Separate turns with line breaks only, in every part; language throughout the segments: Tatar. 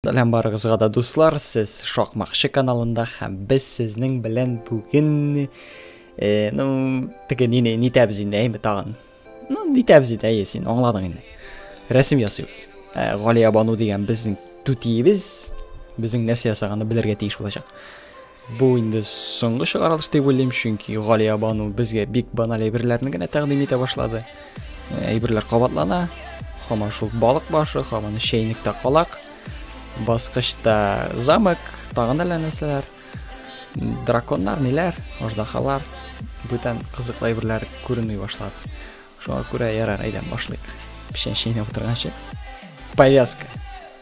Сәлам барыгызга да дуслар, сез Шакмакчы каналында һәм без сезнең белән бүген э, ну, теге нине нитәбез инде әйме тагын. Ну, нитәбез инде әйе син аңладың инде. Рәсем ясыйбыз. Ә, Галия Бану дигән безнең түтиебез, безнең нәрсә ясаганны белергә тиеш булачак. Бу инде соңгы чыгарылыш дип уйлыйм, чөнки Галиябану безгә бик баналь әйберләрне генә тәкъдим итә башлады. Э, әйберләр кабатлана, хаман шул балык башы, хаман чәйнектә калак, баскычта замок, тагын әллә нәрсәләр, драконнар, ниләр, аждахалар, бүтән кызыклы әйберләр күренми башлады. Шуңа күрә ярар, әйдәм башлыйк. Печән чәйнәп утырганчы. Повязка.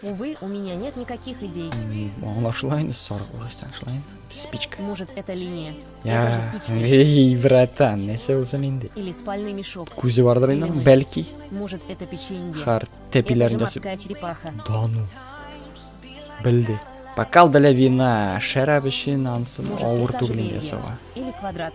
Увы, у меня нет никаких идей. Аңлашыла инде саргылышта, шулай инде. Спичка. Может, это линия? Я, эй, братан, нәрсә узам инде? Или спальный мешок. Күзе бардыр инде, бәлки. Может, это печенье? Хар, тәпиләрен ясып. Да ну. Белде. Бокал для вина, шәраб өчен ансын авыр түгелен ясауга. Или квадрат.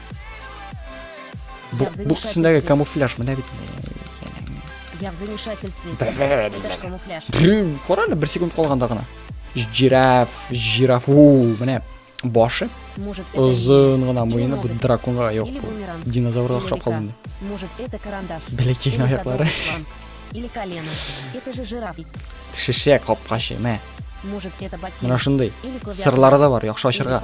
Бук, бук өстендәге камуфляж менә бит. Я в замешательстве. камуфляж. Кара әле, бер секунд калганда гына. Жираф, жираф, у, менә башы. Озын гына муены бу драконга юк. Динозаврга охшап калды инде. Может, это карандаш. Бәләкәй аяклары. Или колено. Это же жираф. Шешә капкачы, мә. Может, это ботинок. Менә шундый. Сырлары да бар, яхшы ачырга.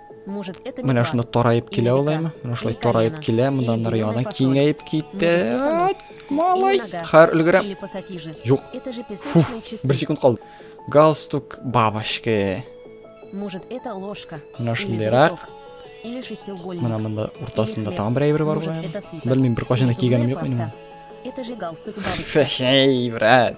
Менә шунда тараеп килә ул әйме. Менә шулай тараеп килә, монда ныр яна киңәеп китте. Малай, хәр өлгерә. Юк. Фу, бер секунд калды. Галстук бабочки. Может, это ложка? Менә шундыйрак. Или шестиугольник. Менә монда уртасында тагын бер әйбер бар бугай. Белмим, бер кашына кигәнем юк минем. Это же галстук бабочки. Фәшәй, брат.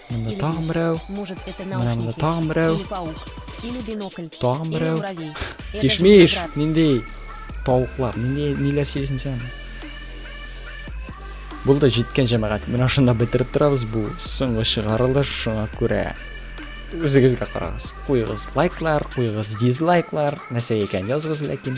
Монда тагын берәү. Менә монда тагын берәү. Тагын берәү. Кишмиш, ниндей тавыклар, ниндей ниләр сөйлисең син? Бул да җиткән җәмәгать. Менә шунда бетереп торабыз бу соңгы чыгарылыш шуңа күрә. Үзегезгә карагыз. Куйыгыз лайклар, куйыгыз дизлайклар. Нәрсә икән языгыз ләкин.